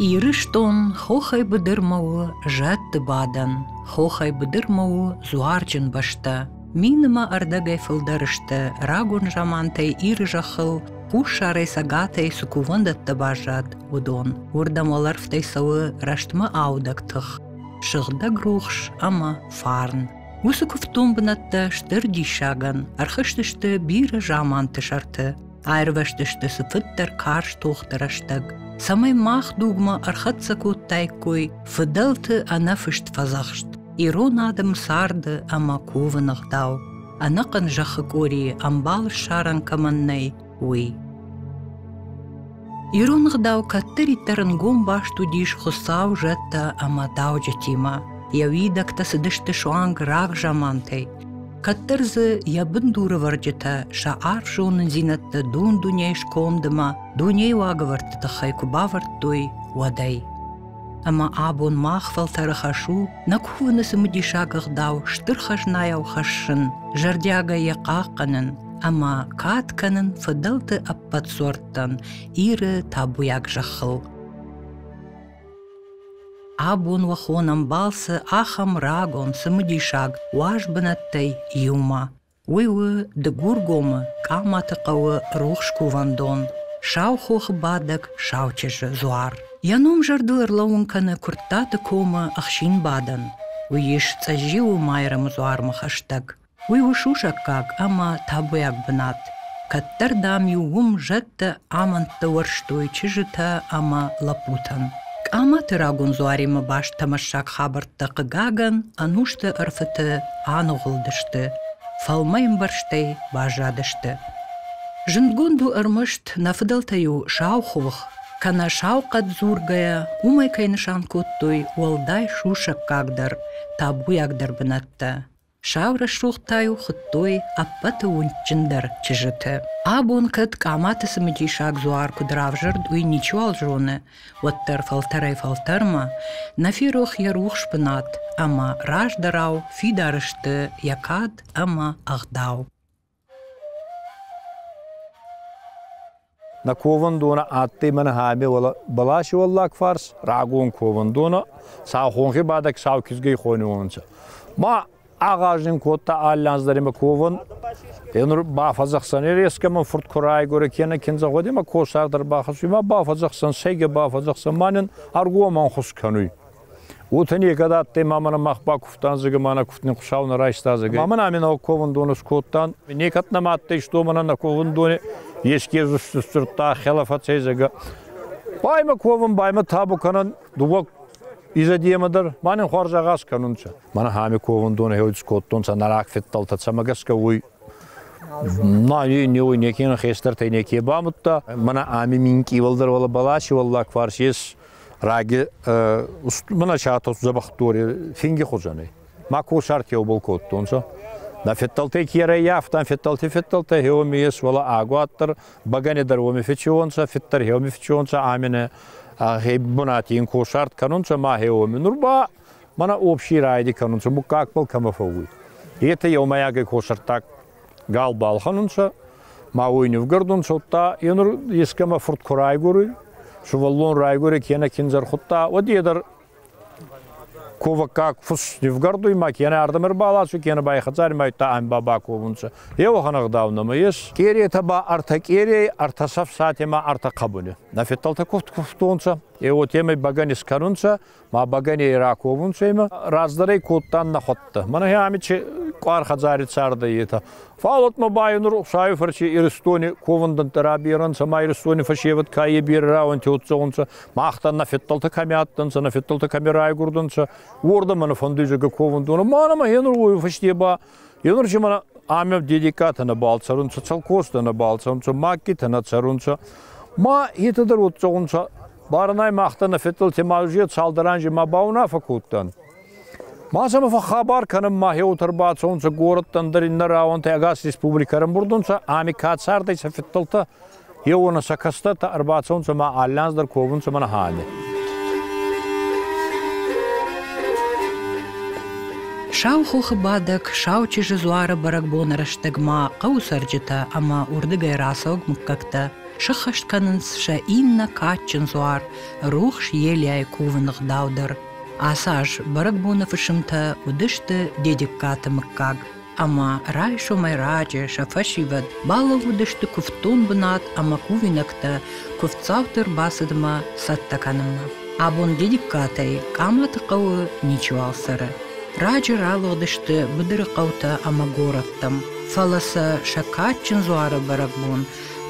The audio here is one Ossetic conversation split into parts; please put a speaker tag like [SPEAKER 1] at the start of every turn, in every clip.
[SPEAKER 1] Ирыстон хохӕй быдырмӕ у зӕдты бадӕн, хохӕй быдырмӕ у дзуарджын бӕстӕ. Минымӕ ӕрдӕгӕй фылдӕр сты рагон замантӕй Иры зӕххыл хуссарӕй цӕгатӕй цы кувӕндӕттӕ баззад, уыдон. Уырдӕм уӕлӕрвтӕй цӕуы рӕстмӕ аудӕг тых, сыгъдӕг рухс ӕмӕ фарн. Уыцы куывддон бынӕттӕ стыр диссагӕн ӕрхызтысты бирӕ заманты сӕрты. Аирвӕзтысты цыфыддӕр карз тохты рӕстӕг, цӕмӕй мах дугмӕ ӕрхӕццӕ кодтаиккой фыдӕлты ӕнӕфыст фӕдзӕхст ирон адӕм царды ӕмӕ ковын ӕгъдау, ӕнӕхъӕн зӕххы къорийы ӕмбал ссарӕн кӕмӕн нӕй, уый. Ирон ӕгъдау кӕддӕриддӕр ӕнгом баст уыдис Хуыцау зӕдтӕ ӕмӕ дауджытимӕ. Йӕ уидӕгтӕ цыдысты суанг рагзамантӕй, кӕддӕр дзы йӕ бындурывӕрджытӕ сӕ арф зонындзинӕдтӕ дон дунейы скомдымӕ, дунейы уагӕвӕрдты тыххӕй куы бавӕрдтой, уӕдӕй. Ӕмӕ абон мах фӕлтӕры хӕс у нӕ кувыны цымыдисаг ӕгъдау стыр хӕзнайау хӕссын, зӕрдиагӕй йӕ хъахъхъӕнын ӕмӕ кад кӕнын фыдӕлты ӕппӕт сорттӕн Иры табуйаг зӕххыл. Абон уӕ хонӕм балцы ахӕм рагон цымыдисаг уаз бынӕттӕй иумӕ. Уый у Дыгургомы Къаматы хъӕуы рухс кувӕндон Саухохы бадӕг Саучызджы дзуар. Йӕ ном зӕрдыл ӕрлӕууын кӕны Куырттаты комы ӕхсинбадӕн. Уый ис Цъӕзджиуы Майрӕмы дзуармӕ хӕстӕг. Уый у сусӕггаг ӕмӕ табуйаг бынат. Кӕддӕр, дам-иу уым зӕдтӕ, амӕндтӕ уӕрстой чызджытӕ ӕмӕ лӕппутӕн. Къаматы рагон дзуаримӕ баст тӕмӕссаг хабӕрттӕ, хъыгагӕн, ӕнусты ӕрфыты аныгъуылдысты, фӕлмӕйӕмбӕрзтӕй баззадысты. Зындгонд у ӕрмӕст нӕ фыдӕлтӕ-иу сау хох, кӕнӕ сау хъӕд дзургӕйӕ, уымӕй кӕй нысан кодтой уӕлдай сусӕггагдӕр, табуйагдӕр бынӕттӕ. Сау рӕсугъд та-иу хуыдтой ӕппӕты уындджындӕр чызджытӕ. Абон кӕд Къаматы цымыдисаг дзуар куыд равзӕрд, уый ничиуал зоны, уӕддӕр фӕлтӕрӕй-фӕлтӕрмӕ нӕ ферох йӕ рухс бынат ӕмӕ раздӕрау фидар сты йӕ кад ӕмӕ ӕгъдау.
[SPEAKER 2] Нӕ ковӕндонӕ адтӕй Мӕнхӕмӕ бӕласи уӕллаг фарс рагон ковӕндонӕ, сау хонхи бадӕг сау кизгей хонуонцӕ. Ма агъаз нин кодта аллианздӕр имӕ ковӕн. Е нур бафӕдзӕхсӕн, е резке мӕ фурт ку райгорӕ кенӕ киндзӕ гъуди мӕ косаг дӕр бахӕссуй, ма бафӕдзӕхсӕн, сӕйгӕ бафӕдзӕхсӕн, ма нин ӕргомӕн хус кӕнуй. Уотӕ некӕд адтӕй, ма мӕнӕ мах бакувтан, зӕгӕ ма нӕ кувтни Хуцау нӕ райста, зӕгӕ. Ма мӕн ами нӕ ковундон ӕскодтан. Некӕд нӕма адтӕй, што мӕнӕ нӕ ковундони еске сдзурдта хела фӕцӕй, зӕгӕ. Баймӕ ковун, баймӕ табу кӕнӕн, дууӕ изӕдемӕ дӕр, ма нин хуарз агъаз кӕнунцӕ. Мӕнӕ ами ковундон хеуд скодтонцӕ, нӕ раг феддӕлтӕ цӕмӕ гӕсгӕ уой Ма е не уй, неке нӕ хестӕртӕй неке бамудта. Мӕнӕ ами минкъий уӕлдӕр уӕлӕ Баласи уӕллаг фарс ес Раги мына сӕтос дзӕбӕхдори финги хузӕнӕй. Ма косарт еубол кодтонцӕ. На федталтӕй кирӕй афтан федталти федталтӕ хеоми ес, вала агуаттар багане дӕр уоми фечеонцӕ, федтар хеоми фечеонцӕ амене хе бунати ин косарт кӕнунцӕ ма хеоми. Нур ба мана общий райди кӕнунцӕ, буккаг пал кӕмӕ фӕууй. Ете еумӕйагӕй косарттаг Гал балхӕнун сӕ, ма уой нивгӕрдун, содта, енур ескӕмӕ фурт ку райгуруй, сувӕллон райгури кенӕ киндзӕр худта, уӕд е дӕр коваккаг фус нивгӕрдуй, ма кенӕ ардӕм ӕрбаласуй, кенӕ ба е хӕдзари мӕйттӕ ӕмба баковунцӕ. Е уӕхӕн ӕгъдау нӕмӕ ес. Къериетӕ ба ӕртӕ къерей, ӕртӕ сӕфсатемӕ, ӕртӕ хъӕбуни. Нӕ федтӕлтӕ кувтонцӕ, е уотемӕй бӕгӕн искӕнунцӕ, ма бӕгӕней раковунцӕмӕ, раздӕрӕй кодтан нӕхуӕттӕ. Мӕнӕ ами че къуар хӕдзари цардӕй етӕ. Фал отмӕ ба нур Рухсайи фӕрци Иристони ковундӕнттӕ раберӕнцӕ ма Иристони фӕсевӕд ка е берӕ рауӕнти отдзӕунцӕ, махтан нӕ феддӕлтӕ кӕми адтӕнцӕ, нӕ феддӕлтӕ кӕми райгурдӕнцӕ, уордӕмӕ нӕ фӕндуйдзӕгӕ ковундон. Ма нӕмӕ е нур уой фӕсте ба Елырджи мара ами дедикатӕ нӕбал цӕрунцӕ, цӕлкостӕ нӕбал цӕрунцӕ, маккитӕ нӕ цӕрунцӕ. Ма етӕ дӕр уод цӕунцӕ. Баранай махта нӕ фетъӕлти малюзия цалдӕранжи ма баунафӕ кодтан. Ма сӕмӕ фӕхабар кӕнӕн ма хеутӕр бацӕунцӕ горӕттӕн дӕр иннӕ рауӕнтӕ ӕгас республикӕ ӕрӕмбурдунцӕ, ами ка цардӕй сӕ фетъӕлтӕ Еуона сӕ кӕстӕртӕ ӕрбацӕунцӕ ма аллянз дӕр ковунцӕ мӕнӕ Хане.
[SPEAKER 1] Сау хохы бадӕг, Сау чызджы дзуары бӕрӕгбоны рӕстӕгмӕ хъӕуы цӕрджытӕ ӕмӕ уырдыгӕй рацӕуӕг мыггӕгтӕ сыххӕст кӕнынц сӕ иннӕ кадджын дзуар, рухс елӕй кувын ӕгъдау дӕр. Ацы аз бӕрӕгбоны фысымтӕ уыдысты Дедегкаты мыггаг. ӕмӕ райсомӕй раджы сӕ фӕсивӕд балӕууыдысты куывддон бынат ӕмӕ кувинӕгтӕ куывддзауты ӕрбацыдмӕ цӕттӕ кӕнынмӕ. Абон дедиккатӕй Къаматы хъӕуы ничиуал цӕры. Раджы ралыгъдысты быдыры хъӕутӕ ӕмӕ горӕттӕм, фӕлӕ сӕ сӕ кадджын дзуары бӕрӕгбон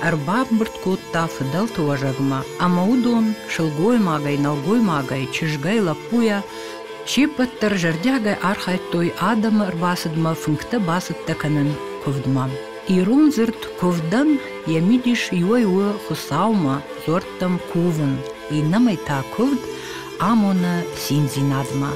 [SPEAKER 1] ӕрбамбырд кодта фыдӕлты уӕзӕгмӕ, ӕмӕ уыдон сылгоймагӕй, нӕлгоймагӕй, чызгӕй, лӕппуйӕ Се ппӕт дӕр зӕрдиагӕй архайдтой адӕмы ӕрбацыдмӕ фынгтӕ бацӕттӕ кӕнын куывдмӕ. Ирон дзырд куывдӕн йӕ мидис иуӕй у Хуыцаумӕ дзуӕрттӕм кувын, иннӕмӕй та куывд амоны циндзинадмӕ.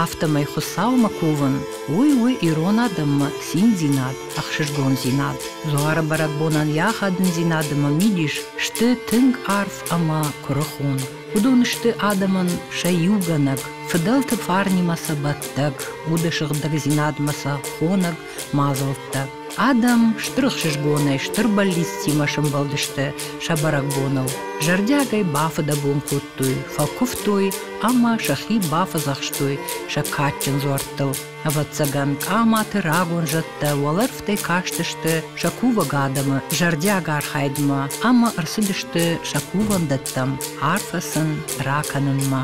[SPEAKER 1] Афтӕмӕй Хуыцаумӕ кувын, уый у ирон адӕммӕ циндзинад, ӕхсызгондзинад. Дзуары бӕрӕгбонӕн йӕ ахадындзинад ӕмӕ мидис сты тынг арф ӕмӕ куырыхон. Уыдон сты адӕмӕн сӕ иугӕнӕг, фыдӕлты фарнимӕ сӕ бӕттӕг, уды сыгъдӕгдзинадмӕ сӕ хонӕг мадзӕлттӕ. Адӕм стыр ӕхсызгонӕй, стыр бӕллицтимӕ сӕмбӕлдысты сӕ бӕрӕгбоныл. Зӕрдиагӕй бафыдӕбон кодтой, фӕкуывтой ӕмӕ сӕхи бафӕдзӕхстой сӕ кадджын дзуӕрттыл. Ӕвӕццӕгӕн, хъаматы рагон зӕдтӕ уӕлӕрвтӕй кастысты сӕ кувӕг адӕмы зӕрдиаг архайдмӕ ӕмӕ ӕрцыдысты сӕ кувӕндӕттӕм арфӕ сын ракӕнынмӕ.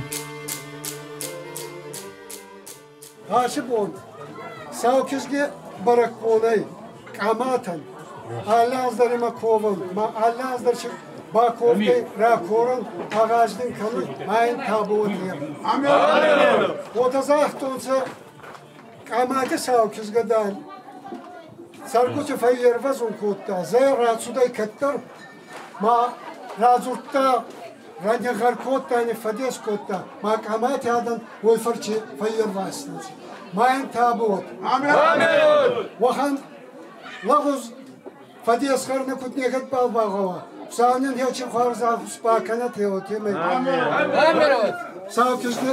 [SPEAKER 3] Асы бон сау кизги бӕрӕгбонӕй Къаматӕй али аз дӕр имӕ ковӕн, ма али аз дӕр си ба ковтӕй ракорӕн агъаз дин кӕнуй ма ин табуати. Уотӕ загътонцӕ Къамати сау кизгӕ дӕр. Цӕргути фӕййервӕзун кодта, зӕ рацудӕй кӕддӕр Ма радзурдта, ранигъӕр кодта ӕни фӕдес кодта, ма къамӕти адӕн уой фӕрчи фӕййервазтонци. Ма ин табуот. Уӕхӕн лӕгъуз фӕдесхӕрнӕ куд некӕдбал багъӕуа, Савнин ечи хуарз ӕхус ба кӕнӕт еуотемӕй. Саутизни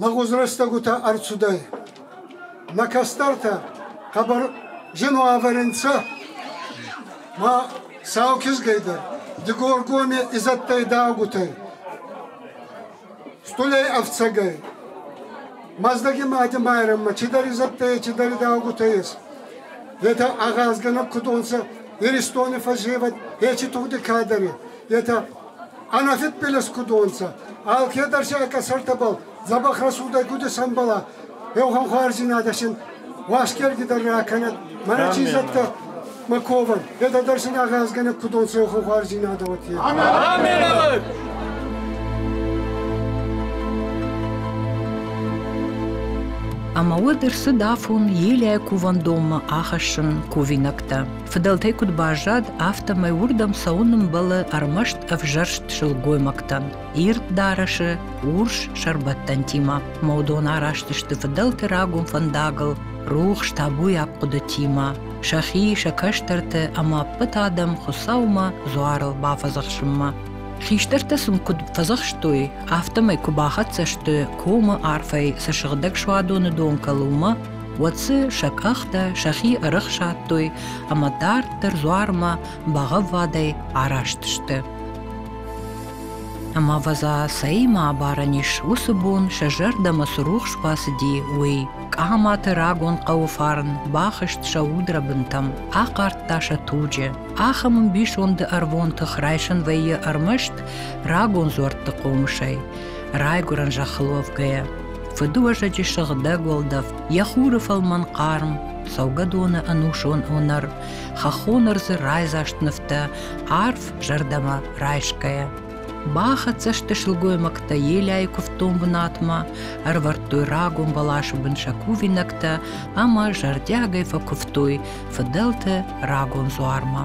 [SPEAKER 3] Лӕгъуз рӕстӕгутӕ ӕрцудӕй. Нӕ кӕстӕртӕ хъӕбӕр зин уавӕр нцӕ. Ма сау кизгӕйдӕр Дигоргоми изӕдтӕй дӕгутӕй. Стулей ӕфцӕгӕй. Мӕздӕги мади Майрӕммӕ чидӕр изӕдтӕй, чидӕр дӕгутӕй ес. Етӕ агъазгӕнӕг кудонцӕ Иристони фӕззевӕд ечи тугъди кадӕри. Етӕ Ӕнӕгъед пелес кудонцӕ, алкедӕр сӕ къӕсӕртӕбӕл дзӕбӕх рацудӕй гуди сӕмбӕла, еухӕнхуарздзийнадӕ син уасгергидӕр ракӕнӕд. Мӕнӕ чи зӕдтӕ Маковӕн, едӕ дӕр син агъазгӕнӕг кудонцӕ еухӕнхуарздзийнадӕ уотӕ. Аминӕвӕр!
[SPEAKER 1] Ӕма уӕд ӕрцыд афон Елӕй кувӕндонмӕ ахӕссын кувинӕгтӕ. Фыдӕлтӕй куыд баззад, афтӕмӕй уырдӕм цӕуын ӕмбӕлы ӕрмӕст ӕвзӕрст сылгоймӕгтӕн, ирд дарӕсы, урс сӕрбӕттӕнтимӕ. Ӕмӕ уыдон араст сты фыдӕлты рагон фӕндагыл, рухс табуйаг хъуыдытимӕ, сӕхи, сӕ кӕстӕрты ӕмӕ ӕппӕт адӕм Хуыцаумӕ дзуарыл бафӕдзӕхсынмӕ. Хистӕртӕ сын куыд фӕдзӕхстой, афтӕмӕй куы бахӕццӕ сты комы арфӕй цы сыгъдӕг суадоны дон кӕлы, уымӕ, уӕд дзы сӕ къӕхтӕ сӕхи ӕрӕхсадтой ӕмӕ дарддӕр дзуармӕ бӕгъӕввадӕй араст сты. Ӕмӕ ӕвӕдза, цӕимӕ абарӕн ис уыцы бон сӕ зӕрдӕмӕ цы рухс бацыди, уый. Къаматы рагон хъӕуы фарн бахызт сӕ удрӕбынтӕм, ахъардта сӕ туджы. Ахӕм ӕмбисонды ӕрвон тых райсын вӕййы ӕрмӕст рагон дзуӕртты хъомысӕй. Райгуырӕн зӕххыл уӕвгӕйӕ. Фыдыуӕзӕджы сыгъдӕг уӕлдӕф, йӕ хуры фӕлмӕн хъарм, цӕугӕдоны ӕнусон уынӕр, хӕххон ӕрдзы райдзаст нывтӕ, арф зӕрдӕмӕ райсгӕйӕ. Бахӕццӕ сты сылгоймӕгтӕ елӕйы куывддон бынатмӕ, ӕрвӕрдтой рагон бӕласы бын сӕ кувинӕгтӕ ӕмӕ зӕрдиагӕй фӕкуывтой фыдӕлты рагон дзуармӕ.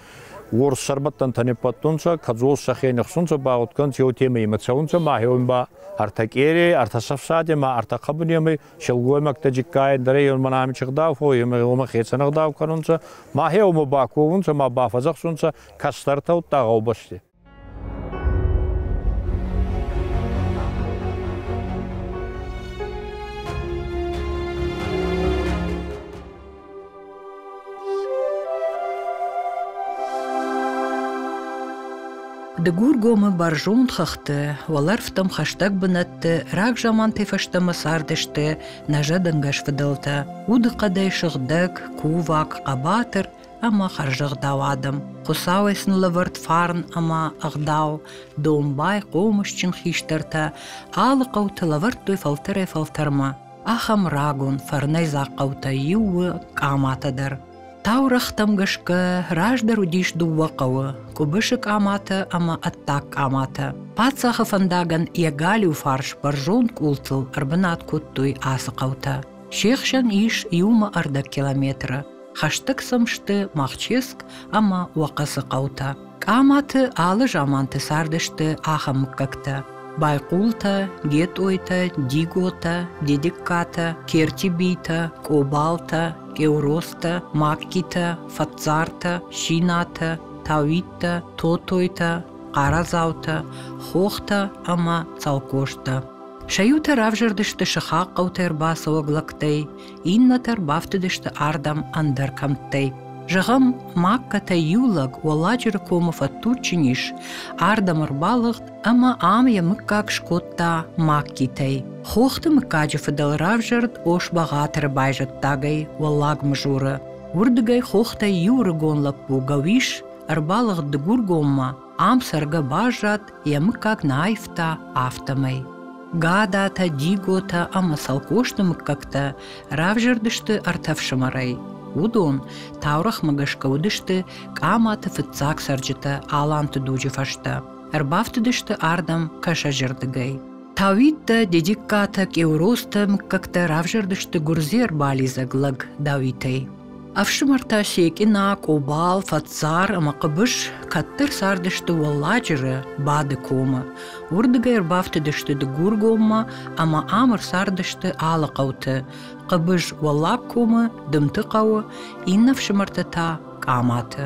[SPEAKER 2] Уорс сӕрбӕттӕнтӕ ниббӕттунцӕ, кӕдзол сӕхе нихсунцӕ ба гъудгӕнцӕ еуетемӕй имӕ цӕунцӕ ма еун ба ӕртӕ къерей, ӕртӕ сӕфсади ма ӕртӕ хъӕбунемӕй силгоймӕгтӕ джигкайӕн дӕрӕй еун мӕнӕ ами чихдау фо, емӕ гъома хецӕн ӕгъдау кӕнунцӕ, ма хеумӕ ба ковунцӕ ма бафӕдзӕхсунцӕ кӕстӕртӕ удта гъӕубӕсти.
[SPEAKER 1] Дыгургомы бӕрзонд хыгъды, уӕлӕрвтӕм хӕстӕг бынӕтты рагзамантӕй фӕстӕмӕ цардысты нӕзӕдӕнгӕс фыдӕлтӕ. Удыхъӕдӕй сыгъдӕг, кувӕг, хъӕбатыр, ӕма хӕрзӕгъдау адӕм. Хуцауӕй сын лӕвӕрд фарн ӕма ӕгъдау. Домбай, хъомысджын хистӕртӕ алы хъӕуты лӕвӕрдтой фӕлтӕрӕй-фӕлтӕрмӕ ахӕм рагон фӕрнӕйдзаг хъӕутӕй иу у Къаматӕ дӕр. Таурӕгътӕм гӕсгӕ раздӕр уыдис дыууӕ хъӕуы – Къуыбысы Къаматӕ ӕмӕ Ӕддаг Къаматӕ. Паддзахы фӕндагӕн йӕ галиу фарс бӕрзонд къултыл ӕрбынат кодтой ацы хъӕутӕ. Се хсӕн ис иумӕ ӕрдӕг километры. хӕстӕг сӕм сты Махческ ӕмӕ Уӕхъӕцы хъӕутӕ. Къаматы алы заманты цардысты ахӕм мыггӕгтӕ. Байхъултӕ, Гетъойтӕ, Диготӕ, Дедегкатӕ, Кертибитӕ, Къобалтӕ, Кьеуростӕ, Маккитӕ, Фӕтцартӕ, Шинатӕ, Тауиттӕ, Тотойтӕ, Хъарадзаутӕ, Хохтӕ ӕмӕ Цӕлхъостӕ. Сӕ иутӕ равзӕрдысты сыхаг хъӕутӕ ӕрбацӕуӕг лӕгтӕй, Иннӕтӕ ӕрбафтыдысты ардӕм ӕндӕр кӕмттӕй. Зӕгъӕм, Маккӕтӕй иу лӕг Уӕлладжыры комы фӕдтуджджын ис, ардӕм ӕрбалыгъд ӕмӕ ам йӕ мыггаг скодта Маккитӕй. Хохты мыггаджы фыдӕл равзӕрд Ос-Бӕгъатыры байзӕддагӕй Уӕллаг Мызуры. Уырдыгӕй хохтӕй иу рыгон лӕппу Гӕуис ӕрбалыгъд Дыгургоммӕ, Ам цӕргӕ баззад, йӕ мыггаг нӕ аивта, афтӕмӕй. Гадатӕ, Диготӕ ӕмӕ Саукосты мыггӕгтӕ равзӕрдысты ӕртӕ фсымӕрӕй. Уыдон таурӕгъмӕ гӕсгӕ уыдысты Къаматы фыццаг цӕрджытӕ Аланты дуджы фӕстӕ. Ӕрбафтыдысты ардӕм кӕсӕджырдыгӕй. Тауиттӕ, Дедиккатӕ, Къеуростӕ мыггӕгтӕ равзӕрдысты гуырдзийӕ рбалидзӕг лӕг Дауитӕй. Ӕфсымӕртӕ Секъина, Къобал, Фӕтсар ӕмӕ Хъыбыс кӕддӕр цардысты Уӕлладжыры Бады комы. Уырдыгӕй ӕрбафтыдысты Дыгургоммӕ ӕмӕ ам ӕрцардысты алы хъӕуты. Хъыбыс Уӕллагкомы, Дымты хъӕуы, иннӕ ӕфсымӕртӕ та Къаматы.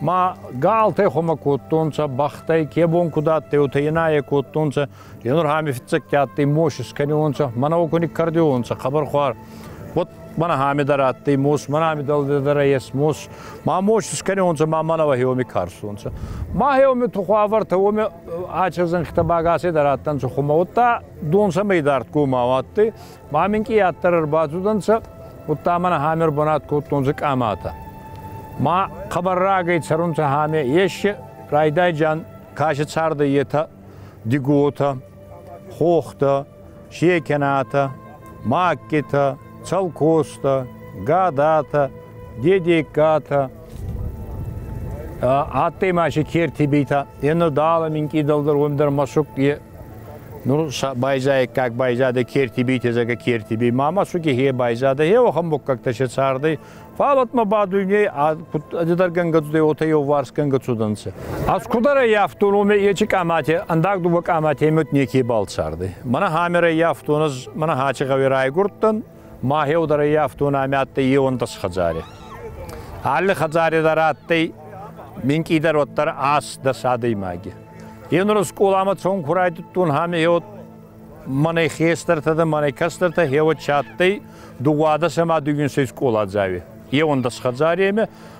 [SPEAKER 2] Ма галтӕ хумӕ кодтонцӕ, бӕхтӕй ке бон куд адтӕй, уотӕ енаe кодтонцӕ. Енурхӕми фиццӕгтӕ адтӕй мос искӕниуонцӕ, мӕнӕ окуни кӕрдиуонцӕ, хъӕбӕрхуар. Вот мӕнӕ ами дӕр адтӕй мос, мӕнӕ ами дӕр ес мос. Ма мос искӕниуонцӕ, ма мӕнӕ уӕхеуоми карстонцӕ. Ма хеуоми тухуавӕртӕ уоми ача зӕнхитӕ багасӕй дӕр адтӕнцӕ хумӕ, уӕдта донсӕмӕй дардгомау адтӕй. Ма мин къийаддӕр ӕрбацудӕнцӕ, удта мӕнӕ ҳаме ӕрбанат кодтонцӕ къаматӕ. Ма хъӕбӕррагӕй цӕрунцӕ ҳаме еши райдайджан каси цардӕй етӕ диготӕ, хохтӕ, секенатӕ, маккитӕ, цӕлкостӕ, гадатӕ, дедегкатӕ, Адтӕй ма си керти битӕ, е нудӕлӕ минкъийдӕлдӕр уӕндӕр мӕсук е. Нур байзайӕггаг байзадӕй керти бити зӕгӕ керти би. Ма мӕсуки хе байзадӕй, хе уӕхӕн муггӕгтӕ се цардӕй. Фал атма ба дуйней адӕдӕргӕнгӕ цудӕй, уотӕ еуварсгӕнгӕ цудӕнцӕ. Аз кудӕр еййафтон, уоми ечи къамати, ӕндаг дуба къамати мӕт неке балцардӕй. Мӕнӕ хамерӕ еййафтон, ӕз мӕнӕ хачи гъӕуи райгурдтӕн, Махеу дӕр еййафтон ами адтӕй еуондос хӕдзаре. Алли хӕдзаре дӕр адтӕй минкъийдӕр уӕддӕр ас дӕс адӕймаги. Е нур скъоламӕ цон ку райдудтон ами еуд мӕнӕй хестӕртӕ дӕ мӕнӕй кӕстӕртӕ хеуӕ чи адтӕй, дууадӕс ӕма дууинсӕй скъола дзауи. Еуондос хӕдзаремӕ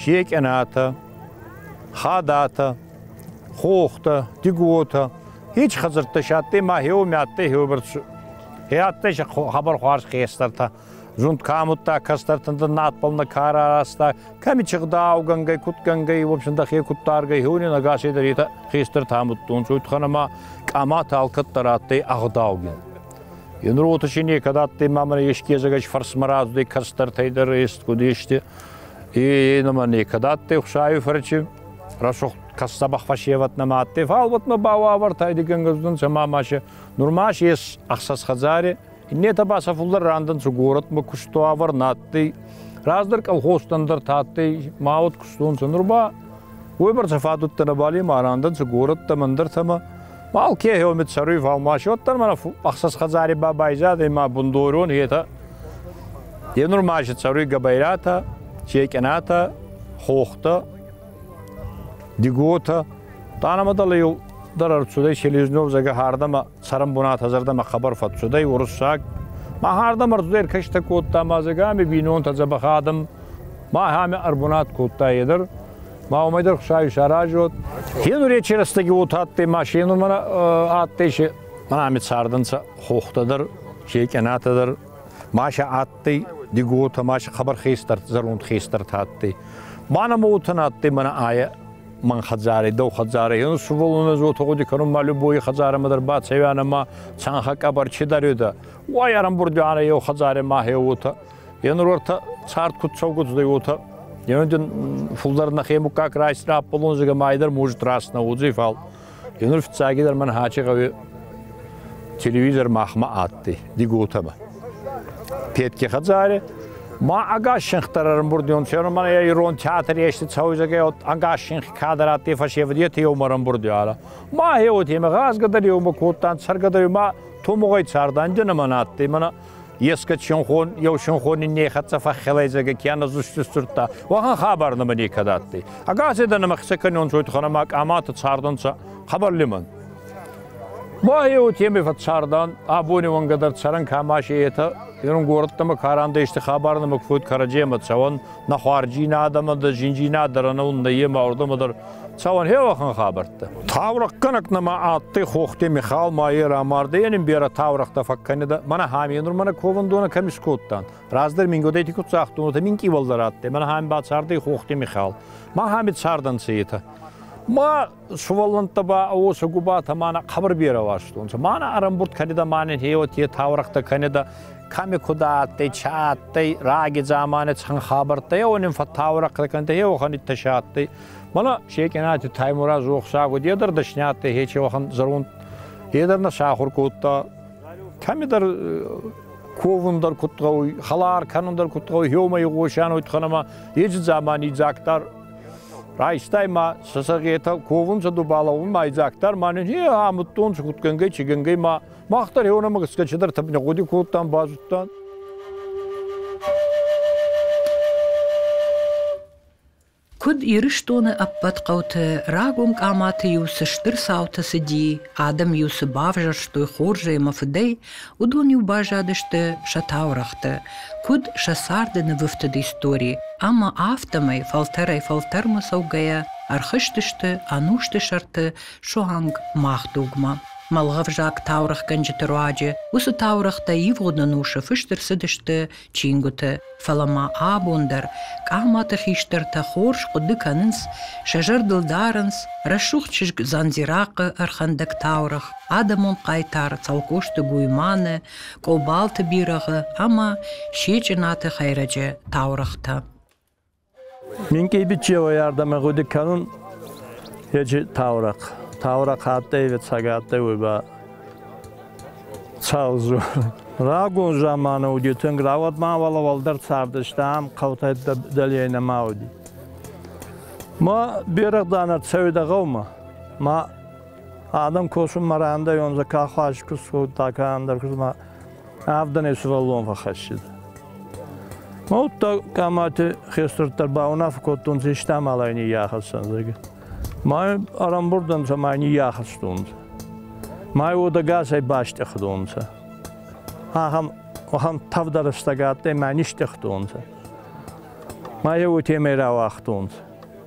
[SPEAKER 2] Секъенатӕ, Хадатӕ, Хохтӕ, Тиготӕ, Хич хӕдзӕрттӕ си адтӕй ма хеуоми адтӕй хеуберд Хе адтӕй си хабар хуарз хестӕртӕ. Зунд ка амудта, кӕстӕртӕн дӕр надбӕл нӕ ка раразта, кӕми чигъдаугӕнгӕй, кутгӕнгӕй, в общем, дӕхе куддаргӕй, хеуни нӕгасӕй дӕр етӕ хестӕртӕ амудтонцӕ, уайтӕхӕн ӕма къаматӕ алкӕддӕр адтӕй ӕгъдаугин. Еныр уотӕ си некӕд адтӕй ма мӕнӕ еске езӕгӕй фӕрсмӕ радзудӕй кӕстӕртӕй дӕр, ест куд есте. Е нома некӕд адтӕй Хусави фӕрчи, рӕсугъд кӕссабах фӕсевӕт нӕма адтӕй, фал уотмӕ ба уавӕртӕй дигенгӕздӕнцӕ ма машӕ. Нурмас ес ӕхсӕз хӕдзаре, иннетӕ ба сӕ фулдӕр рандӕнцӕ горӕтмӕ куст уавӕр нӕ адтӕй. Раздӕр колхозтӕн дӕр тадтӕй ма уод кустонцӕ. Нур ба уойбӕрцӕ фадуттӕ нӕбал ма рандӕнцӕ горӕттӕмӕ, ӕндӕртӕмӕ Балке еомид саруй фалмаши, оттан мана ӕхсӕс хӕдзари ба байзад ӕма бундорон етӕ. Е нур маши цӕруй габайратӕ, чекенатӕ, хохтӕ, диготӕ. Тъанамӕ дӕле дӕр ӕрцудӕй Селезнев зӕгӕ хӕрдӕмӕ цӕрӕн бунатӕ зӕрдӕмӕ хабар фӕццудӕй уруссаг. Ма хӕрдӕмӕ ӕрцудӕй кӕстӕ кодта ма зӕгӕми бийнонтӕ дзӕбӕх адӕм. Ма ӕхеамӕ ӕрбунат кодта едӕр. Ма уымӕй дӕр хсай саразот. Хенуречи рӕстӕги уот адтӕй машинумӕ адтӕй, мӕнами цардӕнцӕ хохтӕ дӕр, секъенатӕ дӕр. Маша адтӕй диготӕ, Маша хабар хестӕрт, зӕронд хестӕрт адтӕй. Мана мотан адтӕй мӕнӕ айӕ мӕн хӕдзари, дӕу хӕдзари. Ену суволуна зотӕ гъуди кӕнун ма любой хӕдзарӕмӕ дӕр бацӕвянӕ ма цанхӕ къӕбӕр чи дарюда. Уай ӕрӕмбурдюанӕ еу хӕдзари ма хеуотӕ. Е нур уартӕ цард куд цӕугудзӕй, уотӕ Еноген фулдӕр нӕхе муккаг райсти раппулун, зӕгӕ майдӕр мужит раснӕ удзи фал. Енур фиццагидӕр мӕн хачи гъӕуи телевизор махмӕ адтӕй, диготӕмӕ. Петке хӕдзаре, ма агаз шинхтар ӕрӕмбурдион, фермер мӕн ӕ ирон театр ести цӕуй, зӕгӕ, от агаз шинх кадр адтӕй фӕсевӕдети еумӕ ӕрӕмбурди ара. Ма е уотемӕ гъазгӕ дӕр еумӕ кодтан, цӕргӕ дӕр ма томугъӕй цардан нӕмӕн адтӕй, мӕнӕ Еске чынхон, еу чынхони нехӕццӕ фӕххелайдзӕге кенӕ зусти сдзурдта, уӕхӕн хабар нӕмӕ некӕд адтӕй. Агаседа нӕмӕ хсӕ кӕнион зойтханамӕ къамата цардӕнцӕ хабар лимӕн. Ба еу теме фӕццардан, абони уӕнгӕ дӕр цӕрӕн кӕмаси етӕ, ерунгордтӕмӕ карандӕ исти хабар нӕмӕ фуд кӕрӕдземӕ цӕуӕн, Нӕ хуарджинадӕмӕ, дӕ зиндзийнадӕрӕнӕун нӕййемӕ уордӕмӕ дӕр цауӕн хеуӕхӕн хабӕрттӕ. Таурӕхъгӕнӕг нӕма адтӕй Хохте Михал ма е рамардӕй, ен ин берӕ таурӕхътӕ фӕккӕнидӕ, мӕнӕ ҳамиенур мӕнӕ ковӕндонӕ кӕми скодтан. Раздӕр мин годӕйти ку цӕхдонутӕ минкъийуӕлдӕр адтӕй, мӕнӕ ҳами бацардӕй Хохте Михал. Ма ҳами цардӕнцӕ етӕ. Ма сувӕллӕнттӕ ба уосӕ губатӕ мӕнӕ хъабар берӕ ластонцӕ мӕнӕ ӕрӕмбурд кӕнидӕ мӕнӕн еуӕт е таурӕхътӕ кӕнидӕ кӕми куда адтӕй чи адтӕй раги замани цӕн хабӕрттӕ еуӕ нин фӕтаурӕхътӕ кӕнидӕ еуӕхӕн иттӕси адтӕй мӕнӕ Секъенати Таймураз охсаг уд е дӕр дӕсни адтӕй хечеуӕхӕн зӕронд е дӕр нӕ сахур кодта кӕмидӕр ковун дӕр куд гъӕуй, халар кӕнун дӕр куд гъӕуй, еумӕ игъосӕн уйтхӕнӕмӕ, еци дзамани дзаг дӕр Райстай ма сӕсӕгетӕ ковун сӕ дубаловун майдзактар ма не амудтон схутгӕнгӕй чигӕнгӕй ма мах дӕр еонӕмӕ гӕсгӕ чидӕр тӕпнегъуди кодтан, базудтан.
[SPEAKER 1] Куыд Ирыстоны ӕппӕт хъӕуты рагон къаматы-иу цы стыр цаутӕ цыди, адӕм-иу цы бавзӕрстой хорзӕй ӕмӕ фыдӕй, Уыдон-иу баззадысты сӕ таурӕгъты, куыд сӕ царды нывыфтыд истори, ӕмӕ афтӕмӕй, фӕлтӕрӕй-фӕлтӕрмӕ цӕугӕйӕ, ӕрхызтысты ӕнусты сӕрты суанг мах дугмӕ. Мӕлгъӕвзаг таурӕгъгӕнджыты руаджы уыцы таурӕгътӕ ивгъуыд ӕнусы фыст ӕрцыдысты чингуыты, фӕлӕ ма абон дӕр хъаматы хистӕртӕ хорз хъуыды кӕнынц, сӕ зӕрдыл дарынц рӕсугъд чызг Дзандзирахъы ӕрхӕндӕг таурӕгъ, адӕмон хъайтар Цӕлхъозты Гуйманы, Къобалты бирӕгъы ӕмӕ Сечъынаты хӕйрӕджы таурӕгътӕ.
[SPEAKER 4] Минкъий бичевой ӕрдӕмӕ гъуди кӕнун ечи таурӕхъ. Таурӕхъ адтӕй, ӕвӕццӕгӕ адтӕй уой ба Сау дзор. Рагон заманы уди тунг, рауӕд ма уӕлӕ уӕлдӕр цардӕстӕ, ам хъӕутӕй дӕлейӕ нӕма уди. Ма берӕгъдан ӕрцӕуидӕ гъӕумӕ. Ма адӕм косун ма рандайонцӕ, ка хуарз ку сходта, ка ӕндӕр ку ма Авдӕнӕй сывӕллон фӕхӕссид. Ма удта къамати хестӕрддӕр баунаффӕ кодтонци истамалӕй ниййахӕссӕн, зӕгӕ. Май арамбурдӕнцӕ май ниййахӕстонцӕ. Май уодагасӕй бастъехдонцӕ. Ахам, ахам тавдарыстӕг адтӕй мӕ нистъехтонцӕ. Май еу темӕй рауагътонцӕ.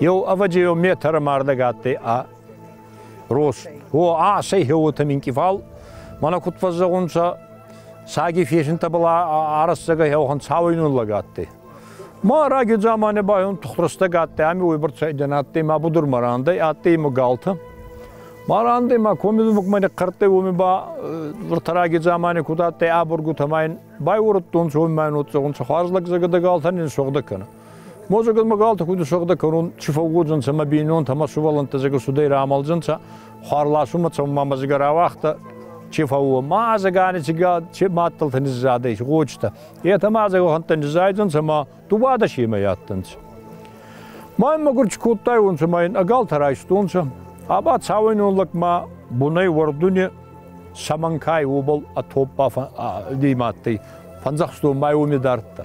[SPEAKER 2] Еу ӕвӕдзейон метры ма ардӕг адтӕй ӕ рост. О, ацӕй хеуотӕ минкъифал, мӕнӕ куд фӕззӕгъунцӕ, саги фесинтӕбӕл арӕссагӕй хеухан цауӕйнунлӕг адтӕй. Ма раги дзамани ба еун тухтурстӕг адтӕй, ами уойбӕрцӕйдӕн адтӕй ма будурмӕ рандӕй, адтӕй имӕ галтӕ. Ма рандӕй ма коми думӕгмӕ нихъхъӕрдтӕй, уоми ба виртараги дзамани куд адтӕй ӕ бургутӕ ма ин байуурдтонцӕ, уоми ма ин уодзӕгъунцӕ, хуарз лӕгдзагадӕ галтӕ нин сугъдӕ кӕнӕ. Мозагӕн магалта худи сӕгъдӕ кӕнун чи фӕууодзӕнцӕ мӕ бийнонтӕ ӕма сувӕллӕнттӕ зӕгӕ судӕй рамалдзӕнцӕ, хуар ласунмӕ цӕунмӕ мӕзигӕ рауагъта, чи фӕууо. Ма азагани цигад, чи мадтӕлтӕ низзадӕй, гъочтӕ. Етӕ ма азаг уӕхӕнттӕ низзайдзӕнцӕ ма дубада семӕ адтӕнцӕ. Ма ин мӕгур чи кодтайуонцӕ, ма ин ӕгалтӕ райстонцӕ. Аба цауӕйнон лӕгмӕ бунӕй уӕрдуни Саманкай уобӕл ӕ топпа димадтӕй. Фӕндзӕхстон май уоми дардта.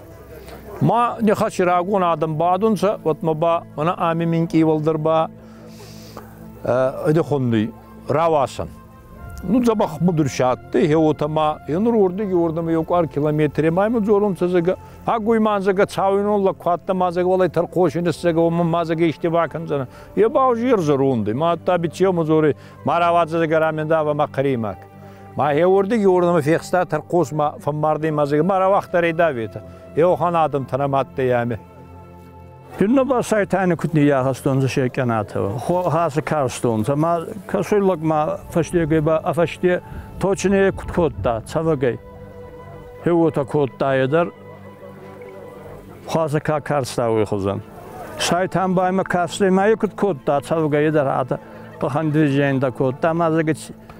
[SPEAKER 2] Ма нехӕ си рагон адӕм бадунцӕ, уӕдмӕ ба мӕнӕ ами минкъийвӕлдӕр ба ӕдехонни рауасӕн. Ну, дзӕбӕх будурси адтӕй, хе уотӕ ма енур уордӕги уордӕмӕ еу къуар километре ма имӕ дзоронцӕ зӕгӕ. Агуй мандзагӕ цауинон лӕг хуӕдта мандзагӕ уӕлӕй тӕрхоси нссӕгӕ, уӕмӕ мандзагӕ исти бакӕндзӕнӕ. Е ба ужи ерзӕ рундӕй, ма адта биццеумӕ дзорӕй, ма рауадзӕ зӕгӕ рамендава ма хъӕримаг. Ма еуордиги уордӕмӕ фехста тӕрхъосмӕ фӕммарди мазег, ма рауагътарӕй даветӕ, еохӕн адӕмтӕ нӕ мадтӕй ами. Тюнна ба сайтани кутни ягъастонцӕ се кенатӕ, хасы карстонцӕ, ма кӕсуй лӕгмӕ фӕстегӕй ба ӕ фӕсте точнее куд кодта цӕвӕгӕй. Хеуотӕ кодтайе дӕр хуасӕ ка карстауй хузӕн. Сайтан ба имӕ кафстӕй ма е куд кодта цӕвгӕйе дӕр адӕ къухӕн движеньтӕ кодта, ма зӕгӕ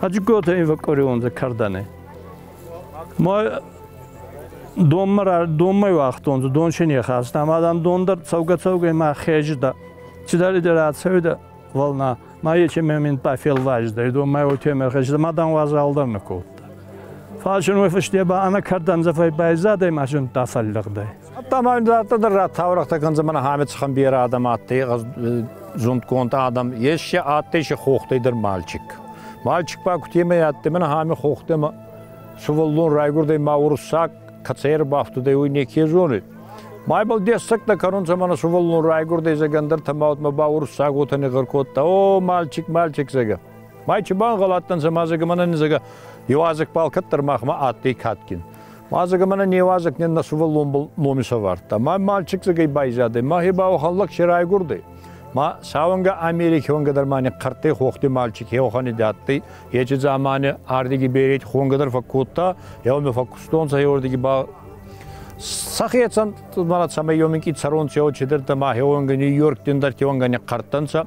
[SPEAKER 2] Хаджигота ин фӕкъкъориуонцӕ кӕрдӕни. Ма донмӕ уагътонцӕ, дон си не хаста, ама дам дон дӕр цӕугӕ-цӕугӕ ма хезидӕ. Цидӕридӕр ацӕуидӕ вълна, ма
[SPEAKER 4] ече мин ба фелвазидӕй, донмӕ уотемӕ хезидӕ, ма дан уазал дӕр нӕ кодта. Фал син уой фусте ба ӕнӕ кӕрдӕнцӕ фӕйбайзадӕй ма син дӕ фӕллӕгдӕй. Ӕдта ма адтӕ
[SPEAKER 2] дӕр рад таурӕхътӕ кӕндзӕ мӕнӕ Хамед Ханберы адӕм адтӕй зундгонд адӕм. Ес си адтӕй си хохтӕй дӕр мальчик. Мальчик ба кутемӕй адтӕй мӕнӕ Хами хохтӕмӕ сувӕллон райгурдӕй ма уруссаг кӕцӕй ӕрбафтудӕй, уой неке зонид. Майбал дессӕгтӕ кӕнунцӕ мӕнӕ сувӕллон райгурдӕй зӕгӕндӕртӕ ма утмӕ ба уруссаг уотӕ негъӕр кодта «О, мальчик, мальчик!» зӕгӕ. Май чи бангъӕл адтӕнцӕ ма зӕгӕ мӕнӕ низӕгӕ еуазӕгбӕл кӕддӕр махмӕ адтӕй кадгин. Уазӕг ӕмӕ не уазӕг не нӕ сувӕллон ном исӕвардта. Ма мальчикдзагӕй байзадӕй, махе ба халлаг се райгурдӕй. Ма сауӕнгӕ Америки уӕнгӕ дӕр мани хъӕрттӕй хохти мальчик хеохани дӕттӕй, ечи замани ардиги береть хуӕнгӕ дӕр фӕккодта, еуми фӕккустонцӕ еуордиги ба Сахецан мара цӕмӕй ёминки царон чео чедерта ма хеонга Нью-Йорк дин дартионга не хъартанца,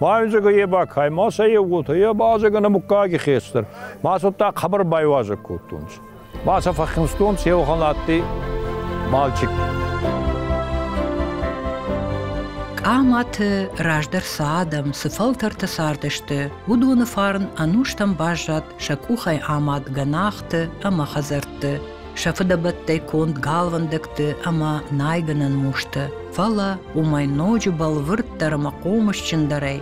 [SPEAKER 2] Мазыга еба каймаса евгута, е мазыга на муккаги хестер. Маса так хабар байвазак куттунц. Маса фахимстунц евханатти мальчик.
[SPEAKER 1] Къаматы раздӕр цы адӕм, цы фӕлтӕртӕ цардысты, уыдоны фарн ӕнустӕм баззад сӕ къухӕй амад гӕнахты ӕмӕ хӕдзӕртты. сӕ фыдӕбӕттӕй конд галвӕндӕгты ӕмӕ найгӕнӕн мустӕ, фӕлӕ уымӕй ноджы бӕлвырддӕр ӕмӕ хъомысджындӕрӕй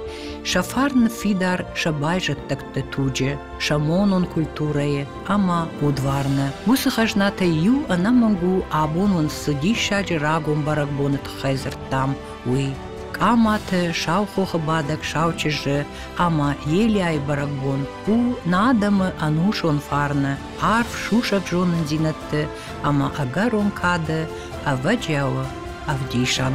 [SPEAKER 1] сӕ фарн ныффидар сӕ байзӕддӕгты туджы, сӕ монон культурӕйы ӕмӕ удварны. Уыцы хӕзнатӕй иу ӕнӕмӕнг у, абон уын цы диссаджы рагон бӕрӕгбоны тыххӕй дзырдтам, уый. Къаматы, Саухохы бадӕг сау чызджы ӕмӕ Елиайы бӕрӕгбон у нӕ адӕмы ӕнусон фарны, арф сусӕг зонындзинӕдты ӕмӕ ӕгӕрон кады ӕвӕджиауы ӕвдисӕн.